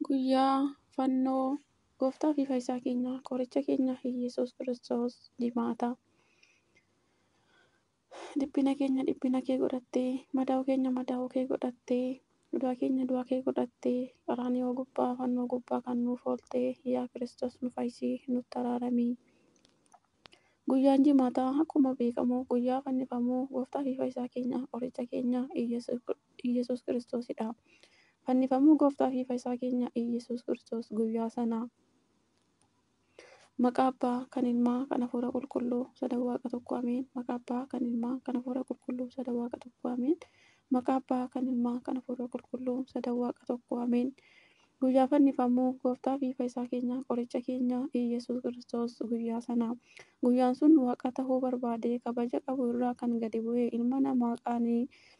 Guyyaa fannoo gooftaa fi fayyisaa keenya qoricha keenya Iyyasuus Kiristoos jimaata. Dhiphina keenya dhiphina kee godhattee, madaa'uu keenya madaa'uu kee godhattee, du'a keenya du'a kee godhattee, qaraaniyoo gubbaa fannoo gubbaa kan nuuf ooltee yaa Kiristoos nu fayyisii nutti araaramii. Guyyaan jimaataa akkuma beekamu guyyaa fannifamuu gooftaa fi fayyisaa keenya qoricha keenya Iyyasuus Iyyasuus Kiristoosidha. Fannifamuu Gooftaa fi Fayisaa keenya Iyyasuus Kiristoos guyyaa sana Maqaa Abbaa, kan Ilmaa, kan Hafuura Qulqulluu, Sadan Waaqa Tokko Ameen Maqaa Abbaa, kan Ilmaa, kan Hafuura Qulqulluu, Sadan Waaqa Tokko Ameen Maqaa Abbaa, kan Ilmaa, kan Hafuura Qulqulluu, Sadan Waaqa Tokko Ameen Guyyaa Fannifamuu Gooftaa fi Fayisaa keenya Qoricha keenya Iyyasuus Kiristoos guyyaa sana Guyyaan sun Waaqa tahuu barbaadee kabaja qabu irraa kan gadi bu'e ilma namaa qaanii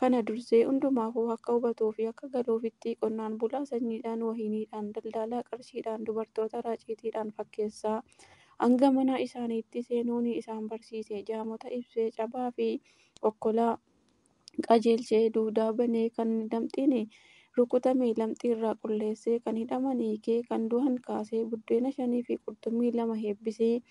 Kana dursee hundumaafuu akka hubatuu fi akka galuufittii qonnaan bulaa sanyiidhaan, wahiniidhaan, daldaalaa qarshiidhaan, dubartoota raaciitiidhaan fakkeessaa hanga mana isaaniitti seenuunii isaan barsiise. Jaamota ibsee, cabaa fi okkolaa qajeelchee, duudaa banee, kan lamxiin rukutame lamxii irraa qulleessee, kan hidhaman hiikee, kan du'an kaasee, buddeena shanii fi qurxummii lama heebbisee,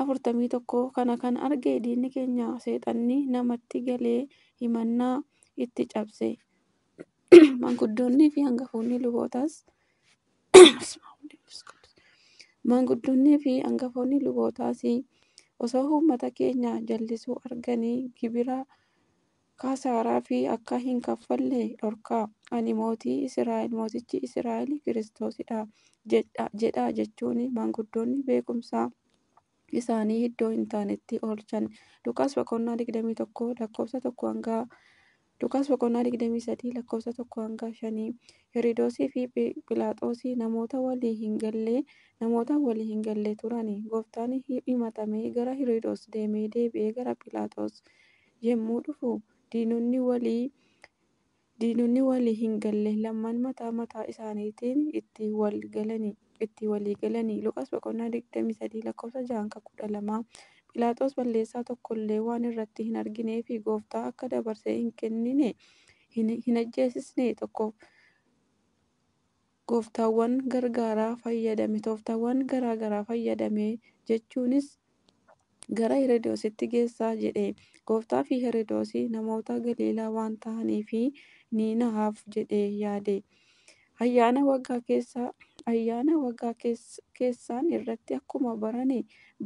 afurtamii tokko kana kan arge diinni keenya seexanni namatti galee himannaa itti cabse maanguddoonnii fi hangafoonni lubootaas maanguddoonnii fi hangafoonni lubootaas osoo uummata keenya jallisuu arganii gibira kasaaraa fi akka hin kaffalle dhorkaa. Ani mootii Israa'el, mootichi Israa'el Kiristoosidha jedhaa jechuun maanguddoonni beekumsaa isaanii iddoo hin taanetti oolchan. Luqaas boqonnaa 21 lakkoofsa 1 hanga Luqaas boqonnaa 23 lakkoofsa 1 hanga 5 Heridoosii fi Philaaxoosii namoota walii hin galle namoota walii hin galle turani. Gooftaan himatamee gara Heridoos deemee deebi'ee gara Philaaxoos yemmuu dhufu diinonni walii diinonni walii hin galle lamman mataa mataa isaaniitiin itti wal galani itti walii galani Luqaas boqonnaa 23 lakkoofsa 6 hanga 12 Philaaxoos balleessaa tokko illee waan irratti hin arginee fi gooftaa akka dabarsee hin kennine hin hin ajjeesisne tokkoof Gooftaawwan gargaaraa fayyadame, tooftaawwan garaa garaa fayyadame, jechuunis gara Herodoositti geessaa jedhe. Gooftaa fi Herodoosi namoota Galiilaa waan tahaniif ni nahaaf jedhee yaade. Ayyaana waggaa keessa, ayyaana waggaa keessa, keessaan irratti akkuma barane,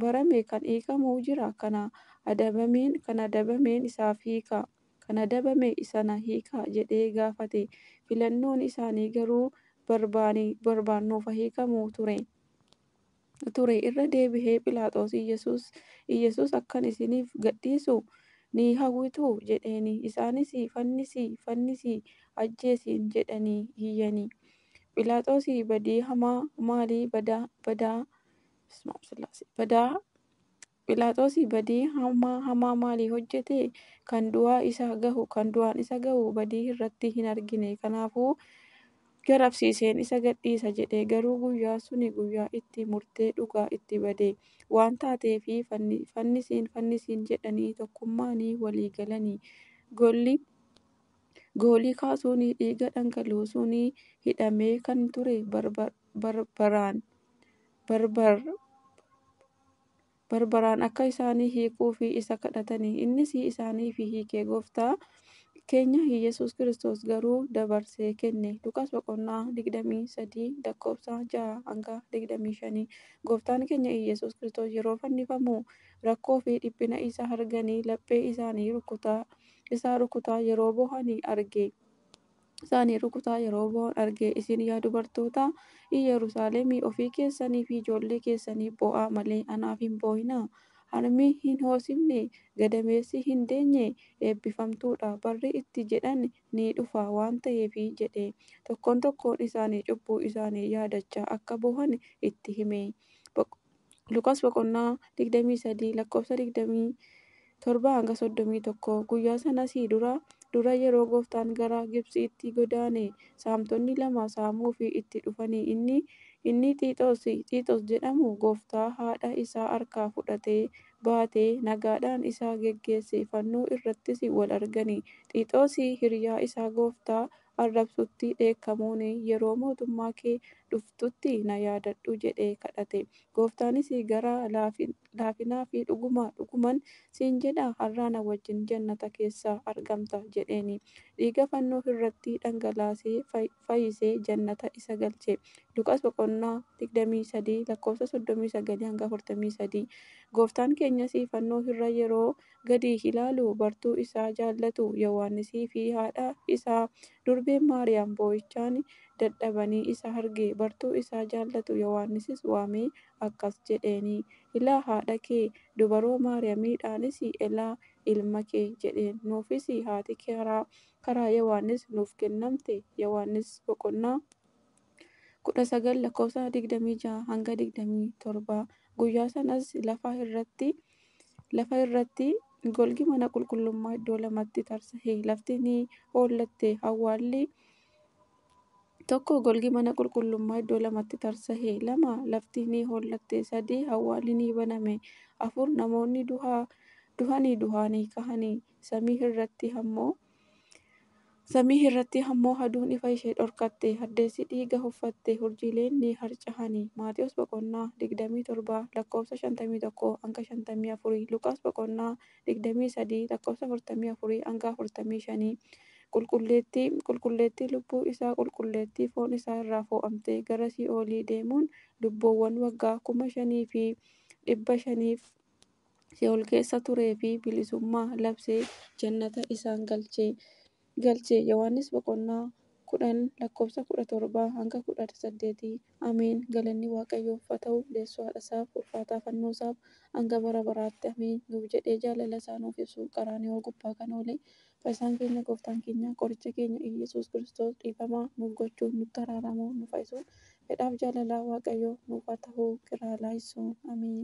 barame kan hiikamu jira, kana adabameen, kan adabameen isaaf hiika. kan adabame isana hiikaa jedhee gaafate. Filannoon isaanii garuu barbaani barbaan nuuf haa hiikamu ture. ture. Irra deebihee Philaaxoos Iyyasuus Iyyasuus akkan isiniif gadhiisu ni hawwituu? jedheeni. Isaanis Fannisi! Fannisi! Ajjeesiin! jedhanii iyyani. Philaaxoos badii hamaa maalii badaa badaa badaa Philaaxosi badii hammaa hamaa maalii hojjete? Kan du'aa isa gahu, kan du'aan isa gahu badii irratti hin argine. Kanaafuu, Gad absiiseen isa gad dhiisa jedhe. Garuu guyyaan suni guyyaa itti murtee dhugaa itti bade waan taateefi fannisiin fannisiin jedhanii tokkummaani walii galani. Golli goolii kaasuuni dhiiga dhangaluusuuni hidhamee kan ture barbaraan, barbar, barbaraan akka isaanii hiikuufi isa kadhatani. Innis isaaniifi hiike. Gooftaa keenya Iyyesuus Kiristoos garuu dabarsee kenne. Luqaas boqonnaa 23 lakkoofsa 6-25. Gooftaan keenya Iyyesuus Kiristoos yeroo fannifamu rakkoofi dhiphina isa arganii laphee isaanii rukutaa isaa rukutaa yeroo boohani arge. isaanii rukutaa yeroo boo'an arge. Isin yaa dubartoota Iyyerusaaleemii ofii keessanii fi ijoollee keessaniif boo'aa malee anaaf hin boo'inaa. Harmi hin hoosifne, gadameessi hin deenye eebbifamtuu dha, barri itti jedhan ni dhufa waan ta'eef jedhee tokkoon tokkoon isaanii cubbuu isaanii yaadachaa akka boohan itti hime. Boq. Luqaas boqonnaa 23 lakkoofsa 27-31 Guyyaa sanasii dura dura yeroo gooftaan gara Gibtsiitti godaane saamtonni lama saamuufi itti dhufanii inni inni Xiixos Xiixos jedhamu gooftaa haadha isaa harkaa fudhatee baatee nagaadhaan isa geggeesse fannoo irrattis wal argani Xiixos hiriyaa isaa gooftaa arrabsutti dheekkamuun, Yeroo mootummaa kee dhuftutti na yaadadhu jedhee kadhate. Gooftaanis gara laafinaa fi Dhuguma, dhuguman siin jedha, har'aa na wajjin jannata keessa argamta jedheeni. Dhiiga fannoo irratti dhangalaasee fayisee jannata isa galche. Luqaas boqonnaa 23 lakkoofsa 39-43. Gooftaan keenyas fannoo irra yeroo gadi ilaalu bartuu isaa jaallatu Yowaannisii fi haadha isaa durbeen Maariyaam boo'ichaan dadhabanii isa arge. Bartuu isaa jaallatu Yowaannisis waamee akkas jedheeni, Ilaa haadha kee, dubaroo Maariyamiidhaanis Elaa ilma kee jedheen. Nuufis haati karaa Yowaannis nuuf kennamte. Yowaannis boqonnaa. 19 lakkoofsa 26 hanga 27 guyyaa sanas lafa irratti lafa irratti golgi mana qulqullummaa iddoo lamatti tarsa'e lafti ni hoollatte awwaalli tokko golgi mana qulqullummaa iddoo lamatti tarsa'e lama lafti ni hoollatte sadii awwaalli ni baname afur namoonni duhaa duhanii duhaanii kahanii samii irratti ammoo Samii irratti ammoo aduun ifa ishee dhorkatte, addeessi dhiiga uffatte, urjiileen ni harca'ani. Maatewos boqonnaa 27 lakkoofsa 51-54, Luqaas boqonnaa 23 lakkoofsa 44-45 Qulqulleettii, qulqulleettii lubbuu isaa, qulqulleettii foon isaa irraa foo'amtee gara sii'oolii deemuun lubbuuwwan waggaa 5500f Si'ool keessa turee fi bilisummaa labsee jannata isaan galchee galche. Yohaannis boqonnaa 10 lakkoofsa 17-18 Ameen galanni waaqayyoof haa ta'u deessuu haadha isaaf ulfaataa fannoo isaaf hanga bara baraatti ameen nuuf jedhee jaalala isaa nuuf ibsu qaraaniyoo gubbaa kan oole fayyisaan keenya gooftaan keenya qoricha keenya Iyyasuus Kiristoos dhiifamaa nuuf gochuun nutti araaramu nu fayyisuun fedhaaf jaalalaa waaqayyoo nuuf haa ta'u kiraa laayisuu ameen.